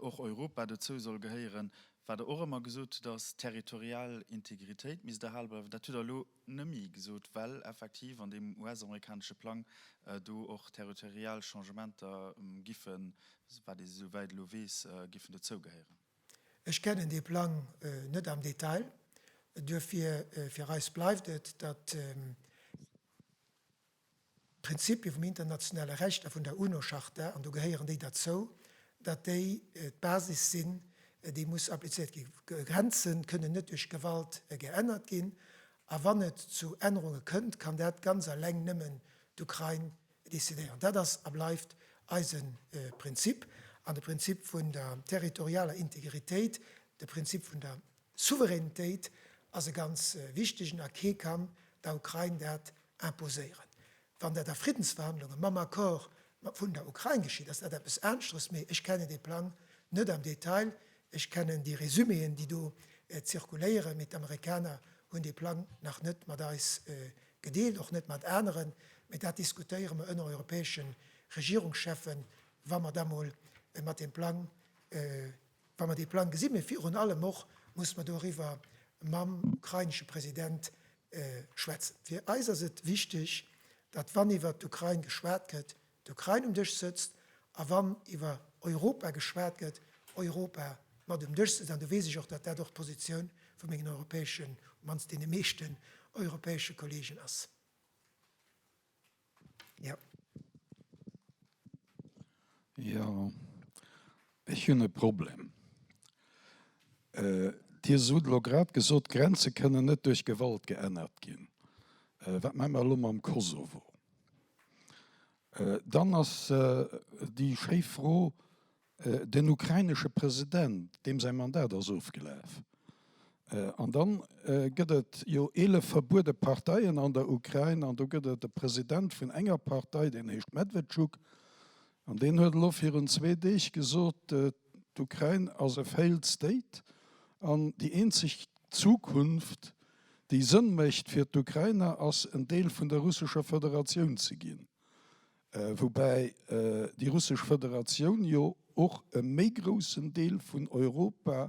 och Europa dozou soll gehéieren. Wat Der och ëmmer gesot hutt, ass, d'territorial Integritéit misst erhale bleiwen. Dat hutt Der elo net méi gesot, well effektiv an deem US-amerikanesche Plang do och territorial Changementer giffen, wat ee souwäit elo weess, giffen dozou gehéieren. Ech kennen dee Plang net am Detail, duerfir fir eis bleift et, datt d'Prinzipie vum internationale Recht a vun der UNO-Charta, an do gehéieren déi derzou, datt déi d'Basis sinn, déi muss applizéiert ginn. Grenze kënnen net duerch Gewalt geännert ginn, a wann et zu Ännerunge kënnt, kann dat ganz alleng nëmmen d'Ukrain decidéieren. Dat ass a bleift eise Prinzip an de Prinzip vun der territorialer Integritéit. De Prinzip vun der Souveränitéit ass e ganz wichtegen a kee kann der Ukrain dat imposéieren. Wann dat a Friddensverhandlunge mam Accord vun der Ukrain geschitt, ass dat eppes aneschteres. Mee ech kennen dee Plang net am Detail. Ech kennen déi Resuméen, déi do zirkuléieren, mee d'Amerikaner hunn dee Plang nach net mat eis Gedeelt och net mat aneren, mee dat diskutéiere mer ënner europäesche Regierungscheffen, wa mer da mol mat deem Plang, wa mer dee Plang gesinn. Mee virun allem och musse mer doriwwer mam ukrainesche President schwätzen. Fir eis ass et wichteg, datt wann iwwert d'Ukrain geschwat gëtt, d'Ukrain um Dësch sëtzt a wann iwwer Europa geschwat gëtt, Europa mat um Dësch sëtzt. An do weess ech och, datt dat och d'Positioun vu mengen europäeschen, op mannst deene meeschten europäesche Kollegen ass. Jo. Jo, ech hunn e Problem. Dir sot elo grad gesot, d'Grenze kënnen net duerch Gewalt geännert ginn. Wat maache mer elo mam Kosovo? Dann ass déi schéi Fro, den ukrainesche President, deem säi Mandat ass ofgelaf. An dann gëtt et jo eelef verbuede Parteien an der Ukrain an do gëtt et e President vun enger Partei, deen heescht Medwedchuk an deen huet elo virun zwee Deeg gesot, D'Ukrain ass e Failed State an déi eenzeg Zukunft, déi Sënn mécht fir d'Ukrainer, ass en Deel vun der russescher Federatioun ze ginn. Woubäi déi russesch Federatioun jo och e méi groussen Deel vun Europa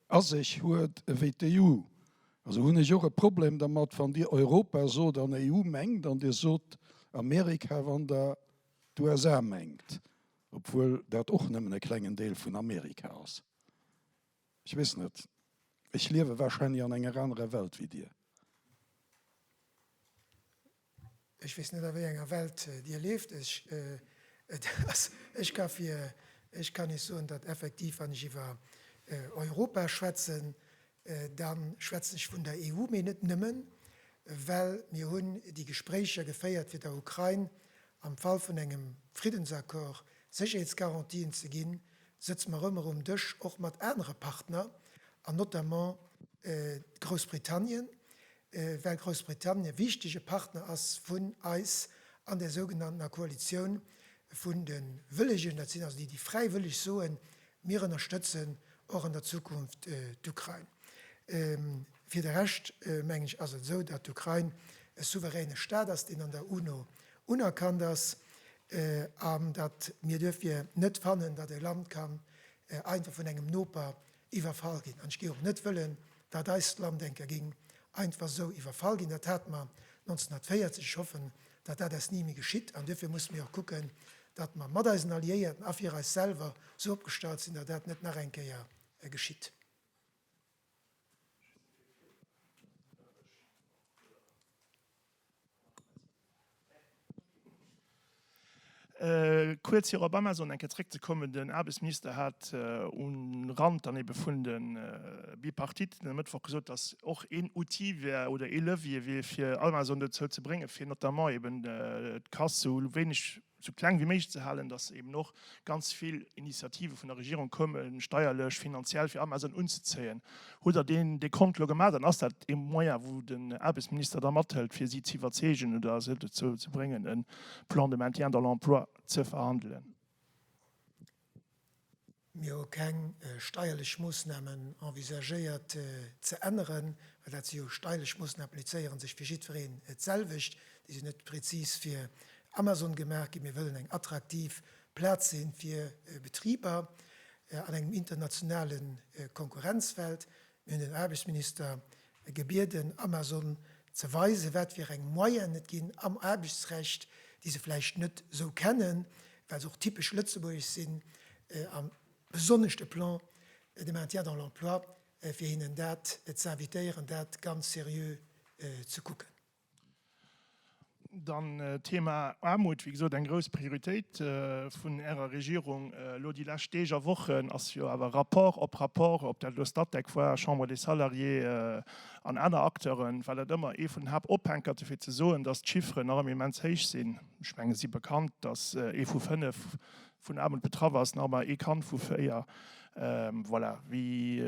a sech huet ewéi d'EU. Also hunn ech och e Problem dermat, wann Dir Europa sot an EU mengt, an Dir sot Amerika, wann Der d'USA mengt. Obwuel dat och nëmmen e klengen Deel vun Amerika ass. Ech weess net, ech liewe wahrscheinlech an enger anerer Welt wéi Dir. Ech weess net a wéi enger Welt Dir lieft. Ech et ass, ech ka fir, ech kann Iech soen, datt effektiv wann ech iwwer Europa schwätzen, Da schwätzen ech vun der EU, mee net nëmmen, well mir hunn déi Gespréicher geféiert, fir der Ukrain am Fall vun engem Friddensaccord Sécherheetsgarantien ze ginn, sëtze mer ëmmer um Dësch, och mat anere Partner an notamment Groussbritannien, well Groussbritannien e wichtege Partner ass vun eis an där sougenanntener Koalitioun vun de Wëllegen, dat sinn also déi, déi fräiwëlleg soen, mir ënnerstëtzen och an der Zukunft d'Ukrain. Fir de Rescht, mengen ech, ass et esou, datt d'Ukrain e souveräne Staat ass, deen an der UNO unerkannt ass, an datt mir duerfir net fannen, datt e Land kann einfach vun engem Noper Iwwerfall ginn. An ech géing och net wëllen, datt eis Landdenker géing einfach esou iwwerfall ginn. Dat hate mer 1940. Ech hoffen, datt dat eis ni méi geschitt. An duerfir musse mir och kucken, datt mer mat eisen Alliéierten a fir eis selwer esou opgestallt sinn, datt dat net nach eng Kéier geschitt. Kuerz fir op Amazon eng Kéier zréckzekommen, Den Aarbechtsminister hat um Rand dann ebe vun de Bipartitten e Mëttwoch gesot, datt och een Outil wär oder ee Levier wier fir Amazon dozou ze bréngen, fir notamment eben d'Casse sou wéineg esou kleng wéi méiglech ze halen, dass eben och ganz vill Initiative vun der Regierung kommen, steierlech, finanziell, fir Amazon unzezéien. Hutt Der deen Dekont elo gemaach an ass dat ee Moyen, wou den Aarbechtsminister da mathëlt, fir si z'iwwerzeegen oder se dozou ze bréngen, e Plan de maintien dans l'emploi ze verhandelen? Mir hu keng steierlech Moossnamen envisagéiert ze änneren, well dat si jo steierlech Moossnamen, applizéiere sech fir jiddwereen d'selwecht. Déi sinn net prezis fir Amazon gemaach ginn. Mir wëllen eng attraktiv Plaz si fir Betriber an engem internationale Konkurrenzfeld. Mir hunn den Aarbechtsminister gebieden, Amazon ze weisen, wat fir eng Moyennen et ginn am Aarbechtsrecht, déi se vläicht net esou kennen, well se och typesch lëtzebuergesch sinn, a besonnesch de Plan de maintien dans l'emploi, fir hinnen dat z'invitéieren, dat ganz seriö ze kucken. Dann d'Thema Aarmut, wéi gesot, eng grouss Prioritéit vun Ärer Regierung. Elo déi lescht Deeg a Wochen ass jo awer Rapport op Rapport, ob dat elo Statec war, Chambre des Salariés an aner Acteuren, war dat ëmmer ee vun den Haaptophänker dofir ze soen, datt d'Chiffren nach ëmmer immens héich sinn. Ech mengen, et si bekannt, datt ee vu fënnef vun Aarmut betraff ass, nach ëmmer ee Kand vu véier. Voilà, wéi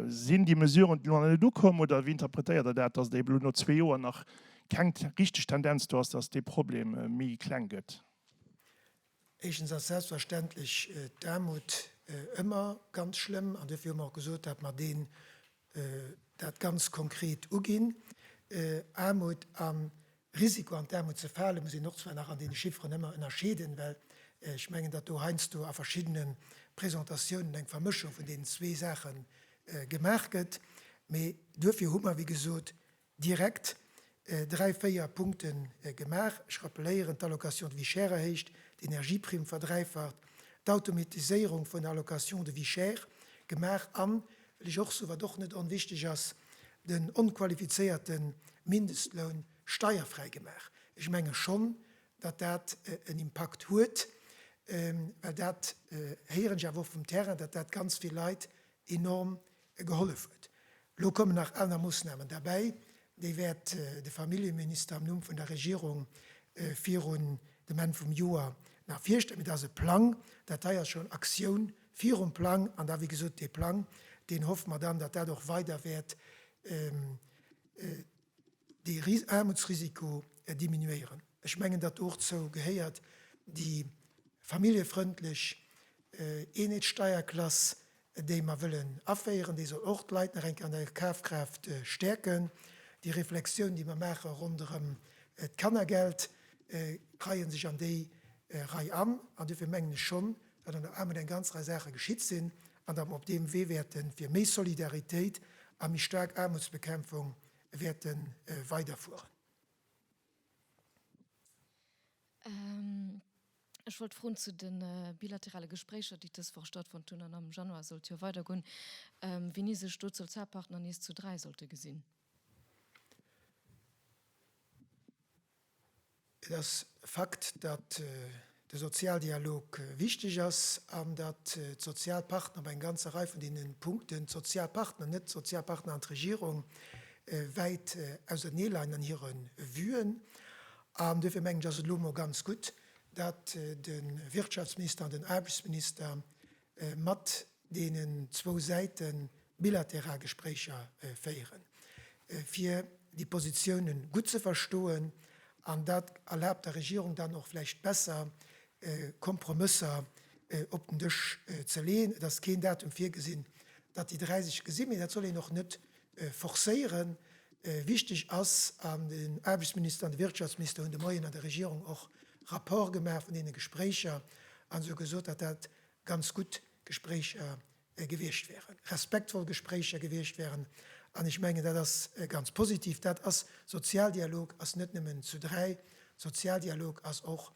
sinn déi Mesuren, déi elo nach net ukommen, oder wéi interpretéiert Der dat, datt et eben elo no zwee Joer nach keng richteg Tendenz do ass, datt dee Problem méi kleng gëtt? Éischtens ass selbstverständlech d'Aarmut ëmmer ganz schlëmm, an duerfir hu mer och gesot, datt mer dee dat ganz konkret uginn. Aarmut a Risiko an d'Aarmut ze fale muss een och zwar nach an deene Chifferen ëmmer ënnerscheeden, well ech mengen, datt do heiansdo a verschiddene Presentatiounen eng Vermëschung vun deenen zwee Saache gemaach gëtt. Mee duerfir hu mer, wéi gesot, direkt dräi, véier Punkte gemaach. Ech rappeléieren, d'Allocation de vie chère erhéicht, d'Energieprimm verdräifacht, d'Automatiséierung vun der Allocation de vie chère gemaach an, well ech och soen, wat och net onwichtig ass, den onqualifizéierte Mindestloun steierfräi gemaach. Ech menge schonn, datt dat en Impakt huet, well dat héieren ech awer och vum Terrain, datt dat ganz vill Leit enorm gehollef huet. Elo kommen nach aner Moossnamen derbäi, déi wäert de Familljeminister am Numm vun der Regierung virun dem Enn vum Joer nach virstellen. Mee dat ass e Plang, dat hei ass schonn Aktioun virum Plang an da wéi gesot dee Plang, deen hoffe mer dann, datt dat och weider wäert dee Aarmutsrisiko diminuéieren. Ech mengen, datt do och zou gehéiert déi familljefrëndlech Eenheetssteierklass, déi mer wëllen aféieren. Déi soll och d'Leit nach eng Kéier an der Kafkraaft stäerken. Déi Reflexioun, déi mer maache ronderëm d'Kannergeld, reie sech an déi Rei an. An dofir mengen ech schonn, datt an der Aarmut eng ganz Rei Saache geschitt sinn an datt mer op deem Wee wäerte fir méi Solidaritéit a méi staark Aarmutsbekämpfung wäerte weiderfueren. Ech wollt froen zu de bilaterale Gespréicher, déi dës Woch stattfonnt hunn, an am Januar soll et jo weidergoen, wéini sech do d'Sozialpartner nees zu dräi sollte gesinn. Et ass e Fakt, datt de Sozialdialog wichteg ass an datt d'Sozialpartner bei enger ganzer Rei vun deene Punkten, d'Sozialpartner, net d'Sozialpartner an d'Regierung, wäit auserneeleien an hire Vuen. An duerfir mengen ech, ass et elo emol ganz gutt, datt de Wirtschaftsminister an den Aarbechtsminister mat deenen zwou Säite bilateral Gespréicher féieren, fir déi Positioune gutt ze verstoen, an dat erlaabt der Regierung dann och vläicht besser, Kompromësser op den Dësch ze leeën. Et ass keen Datum virgesinn, datt déi dräi sech gesinn, mee dat soll een och net forcéieren. Wichteg ass, an den Aarbechtsminister an de Wirtschaftsminister hunn de Moien an der Regierung och Rapport gemaach vun deene Gespréicher an esou gesot, datt dat ganz gutt Gespréicher gewiescht wären, respektvoll Gespréicher gewiescht wären. An ech mengen, dat ass ganz positiv. Dat ass Sozialdialog, ass net nëmmen zu dräi. Sozialdialog ass och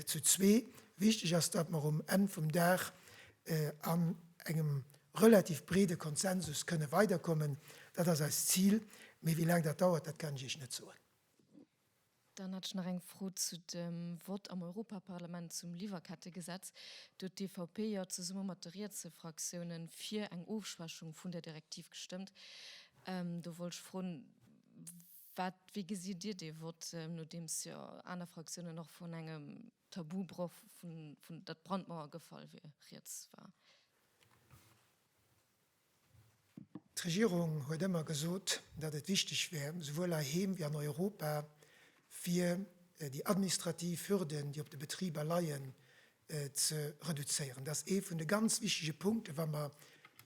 zu zwee. Wichteg ass, datt mer um Enn vum Dag an engem relativ breede Konsensus kënne weiderkommen. Dat ass eist Zil, mee wéi laang dat dauert, dat kann ech Iech net soen. Dann hätt ech nach eng Fro zu dem Vott am Europaparlament zum Liwwerkettegesetz. Do huet d'EVP jo zesumme mat de rietse Fraktioune fir eng Ofschwächung vun där Direktiv gestëmmt. Do wollt ech froen, wat, wéi gesitt Dir dee Vott, nodeems jo aner Fraktiounen och vun engem Tabubroch vun datt d'Brandmauer gefall wier, rieds war. D'Regierung huet ëmmer gesot, datt et wichteg wär, souwuel heiheem wéi an Europa, fir déi administrativ Hürden, déi op de Betriber leien, ze reduzéieren. Dat ass ee vun de ganz wichtege Punkten, wa mer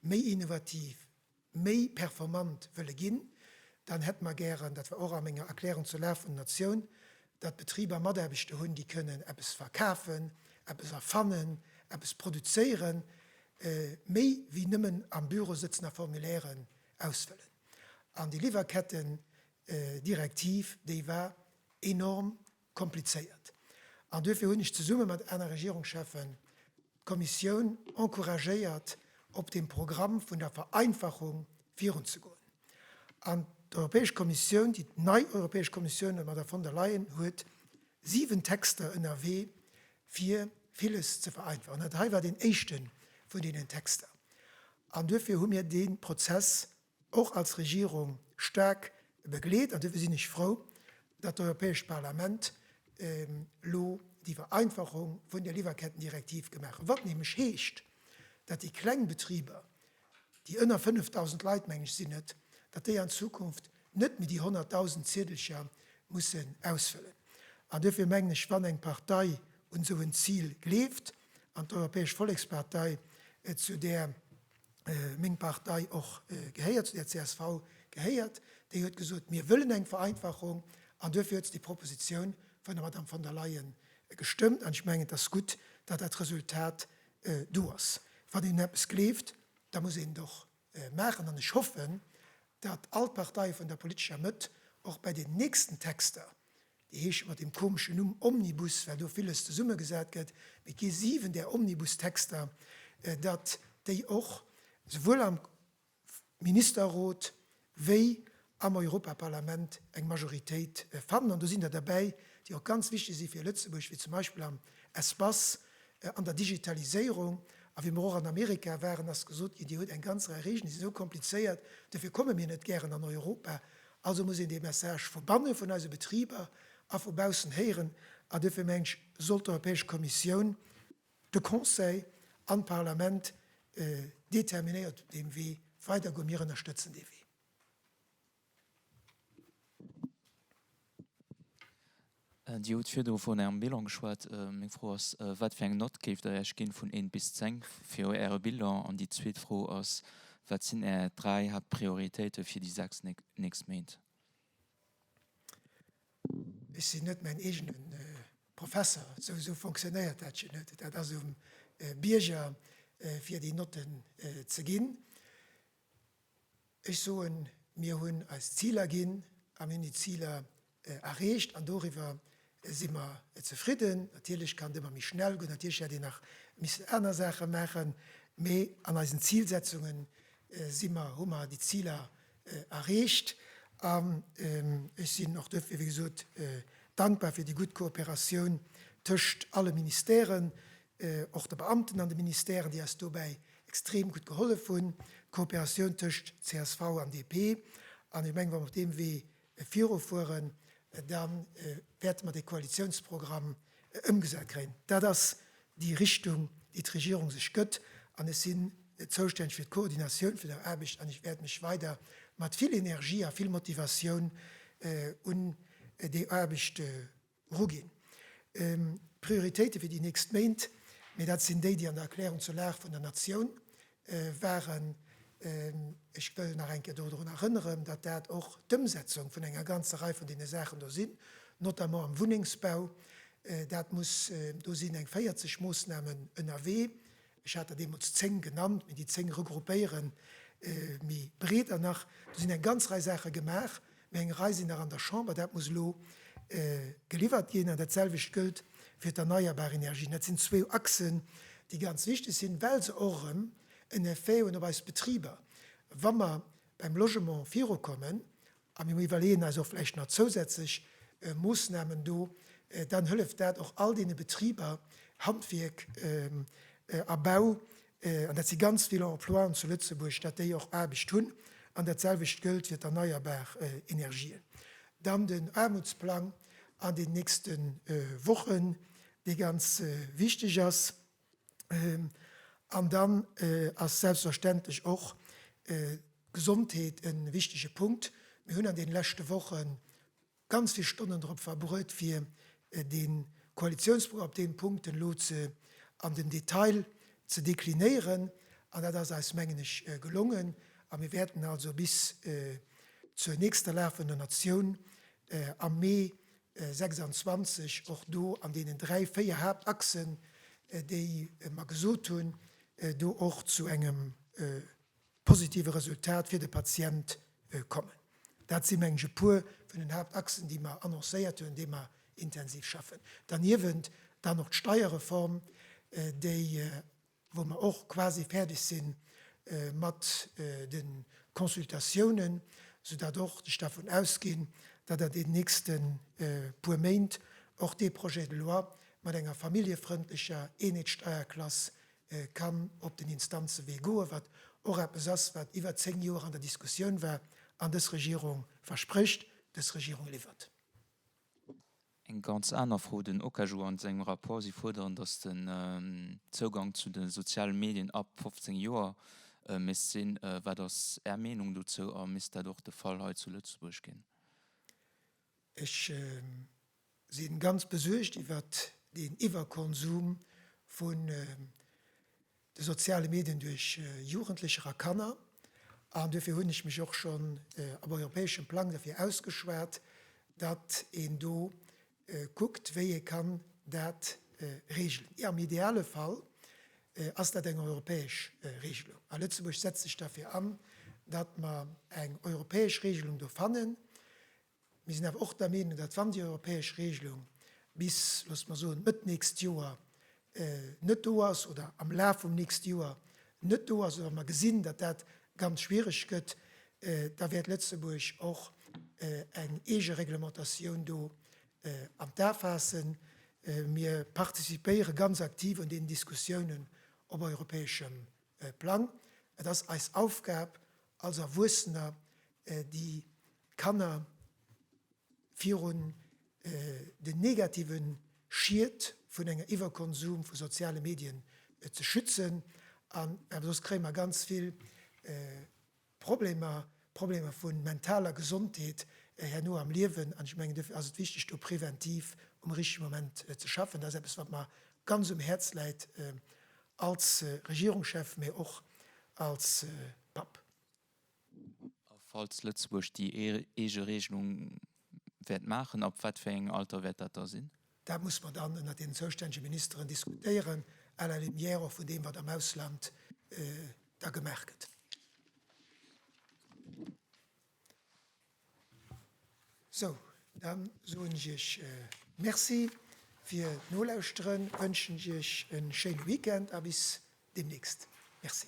méi innovativ, méi performant wëlle ginn, dann hätte mer gären, dat war och a menger Erklärung zur Lag vun der Natioun, datt d'Betriber Mataarbechter hunn, déi kënnen eppes verkafen, eppes erfannen, eppes produzéieren, méi wéi nëmmen am Büro sëtzen a Formulairen ausfëllen. An déi Liwwerketten-Direktiv, déi war enorm komplizéiert an duerfir hunn ech zesumme mat aner Regierungschefen d'Kommissioun encouragéiert, op deem Programm vun der Vereinfachung virunzegoen. An d'Europäesch Kommissioun, déi nei Europäesch Kommissioun ënner der Von der Leyen, huet siwen Texter ënnerwee, fir villes ze vereinfachen. Dat hei war deen éischte vun deenen Texter an duerfir hu mir dee Prozess och als Regierung staark begleet. An duerfir sinn ech frou, datt d'Europäescht Parlament elo déi Vereinfachung vun der Liwwerkettendirektiv gemaach huet, wat nämlech heescht, datt déi kleng Betriber, déi ënner 5.000 Leit, mengen ech sinn et, datt déi an Zukunft net méi déi 100.000 Ziedelcher mussen ausfëllen. An duerfir mengen ech, wann eng Partei un esou en Zil gleeft, an d'Europäesch Vollekspartei, zu där meng Partei och gehéiert, zu der csv gehéiert, déi huet gesot, mir wëllen eng Vereinfachung an duerfir huet se déi Proposition vun der Madame von der Leyen gestëmmt. An ech mengen, et ass gutt, datt dat Resultat do ass. Wann een un eppes gleeft, da muss een et och maachen. An ech hoffen, datt all d'Parteie vun der politescher Mëtt och bei den nächsten Texter, Déi heesche mat deem komeschen Numm Omnibus, well do villes zesummegesat gëtt. Mee et gi 7 där Omnibustexter, datt déi och souwuel am Ministerrot wéi am Europaparlament eng Majoritéit fannen. An do sinn der derbäi, déi och ganz wichteg si fir Lëtzebuerg, wéi zum Beispill am Espace, an der Digitaliséierung. A wéi mer och an Amerika waren, ass gesot ginn, Dir hutt eng ganz Rei Regeln, déi si sou komplizéiert, dofir komme mir net gären an Europa. Also muss een dee Message vu banne vun eise Betriber a vu baussen héieren a dofir mengen ech, soll d'Europäesch Kommissioun, de Conseil an d'Parlament determinéiert op deem Wee weider goen. Mir ënnerstëtzen dee Wee. Dir hutt virdru vun Ärem Bilan geschwat. Meng Fro ass, Wat fir eng Nott géift Der Iech ginn, vun 1 bis 10, fir Äre Bilan? An déi zweet Fro ass, Wat sinn Är dräi Haaptprioritéite fir déi sechs nächst Méint? Ech sinn net mäin eegene Professer, esou fonctionnéiert dat jo net. Dat ass um Bierger, fir déi Notten ze ginn. Ech soen, mir hunn eis Ziler ginn a mir hunn déi Ziler erreecht an doriwwer si mer zefridden. Natierlech kann et ëmmer méi schnell goen, natierlech hätt een nach missen aner Saache maachen, mee an eisen Zilsetzunge si mer, hu mer déi Ziler erreecht. An ech sinn och dofir, wéi gesot, dankbar fir déi gutt Kooperatioun tëscht alle Ministèren, och de Beamten an de Ministèren, déi eis dobäi extrem gutt gehollef hunn, d'Kooperatioun tëscht csv an DP. An ech mengen, wa mer op deem Wee virufueren, da wäerte mer dee Koalitiounsprogramm ëmgesat kréien. Dat ass déi Richtung, déi d'Regierung sech gëtt. An ech sinn zoustänneg fir d'Koordinatioun vun der Aarbecht an ech wäert mech weider mat vill Energie a vill Motivatioun un déi Aarbecht Rugin, D'Prioritéite fir déi nächst Méint, mee dat sinn déi, déi an der Erklärung zur Lag vun der Natioun waren. Ech wëll nach eng Kéier dodrun erënneren, datt dat och d'Ëmsetzung vun enger ganzer Rei vun deene Saachen do sinn, notamment am Wunnengsbau. Dat muss do sinn eng 40 Moosnamen ënnerwee, Ech hat der deemools zéng genannt, mee déi zéng regroupéiere méi breeder nach. Do sinn eng ganz Rei Saache gemaach, mee eng Rei sinn nach an der Chamber. Dat muss elo geliwwert ginn. An datselwecht gëllt fir d'erneierbar Energien. Dat sinn zwou Achsen, déi ganz wichteg sinn, well se och erëm en Effet hunn op eis Betriber. Wa mer beim Logement virukommen, a mir iwwerleeën eis och vläicht nach zousätzlech Moosnamen do, dann hëlleft dat och all deene Betriber, Handwierk a Bau, an dat si ganz vill Emploien zu Lëtzebuerg, datt déi och Aarbecht hunn. An dat selwecht gëllt fir d'erneierbar Energien. Dann den Aarmutsplang an den nächste Wochen, dee ganz wichteg ass. An dann ass selbstverständlech och d'Gesondheet e wichtege Punkt. Mir hunn an deene leschte Woche ganz vill Stonnen drop verbruet, fir de Koalitiounsprogramm op deene Punkten elo an den Detail ze deklinéieren. An dat ass eis, mengen ech, gelongen. A mir wäerten also bis zur nächster lafender Natioun am Mee 26, och do an deenen dräi, véier Haaptachsen, déi mer gesot hunn, do och zu engem positive Resultat fir de Patient kommen. Dat si meng ech e puer vun den Haaptachsen, déi mer annoncéiert hunn, déi mer intensiv schaffen. Derniewent dann och d'Steierreform, déi wou mer och quasi fäerdeg si mat de Consultatiounen, soudatt och, ech dervun ausginn, datt an deenen nächste puer Méint och dee Projet de loi mat enger familljefrëndlecher Eenheetssteierklass kann op den Instanzewee goen, wat och eppes ass, wat iwwer zéng Joer an der Diskussioun war. An dës Regierung versprécht, dës Regierung liwwert. Eng ganz aner Fro, Den Okaju a sengem Rapport, Si fuerderen, datt den Zougang zu de soziale Medien ab 15 Joer misst sinn. Wat ass Är Meenung dozou a misst dat och de Fall hei zu Lëtzebuerg ginn? Ech si ganz besuergt iwwert deen Iwwerkonsum vu de soziale Medien duerch Jugendlecher a Kanner, an duerfir hunn ech mech och schonn op europäeschem Plang derfir ausgeschwat, datt een do kuckt, wéi ee kann dat regelen. Am ideale Fall ass dat eng europäesch Regelung, a Lëtzebuerg setzt sech derfir an, datt mer eng europäesch Regelung do fannen, Mir sinn awer och der Meenung, datt, wann déi europäesch Regelung bis, loosst mer soen, Mëtt nächst Joer net do ass oder am Laf vum nächste Joer net do ass, oder wa mer gesinn, datt dat ganz schwiereg gëtt, da wäert Lëtzebuerg och eng eege Reglementatioun do an d'A faassen. Mir participéiere ganz aktiv un deenen Diskussiounen op europäeschem Plang. Et ass eis Aufgab als Erwuessener, déi Kanner virun den negative Schied vun enger Iwwerkonsum vu soziale Medien ze schützen. An soss kréie mer ganz vill. Problemer, Problemer vu mentaler Gesondheet herno am Liewen. An ech mengen, duerfir ass et wichteg, do preventiv um richtige Moment ze schaffen. Dat ass eppes, wat mer ganz um Häerz läit als Regierungschef, mä och als Papp. A falls Lëtzebuerg déi eege Regelung wäert maachen, ab wat fir engem Alter wäert dat da sinn? Dat muss mer dann ënnert deenen zoustännege Ministeren diskutéieren, à la lumière och vun deem, wat am Ausland da gemaach gëtt. Sou, da soen ech Iech Merci fir d'Nolauschteren, wënschen Iech e schéine Weekend a bis deemnächst. Merci.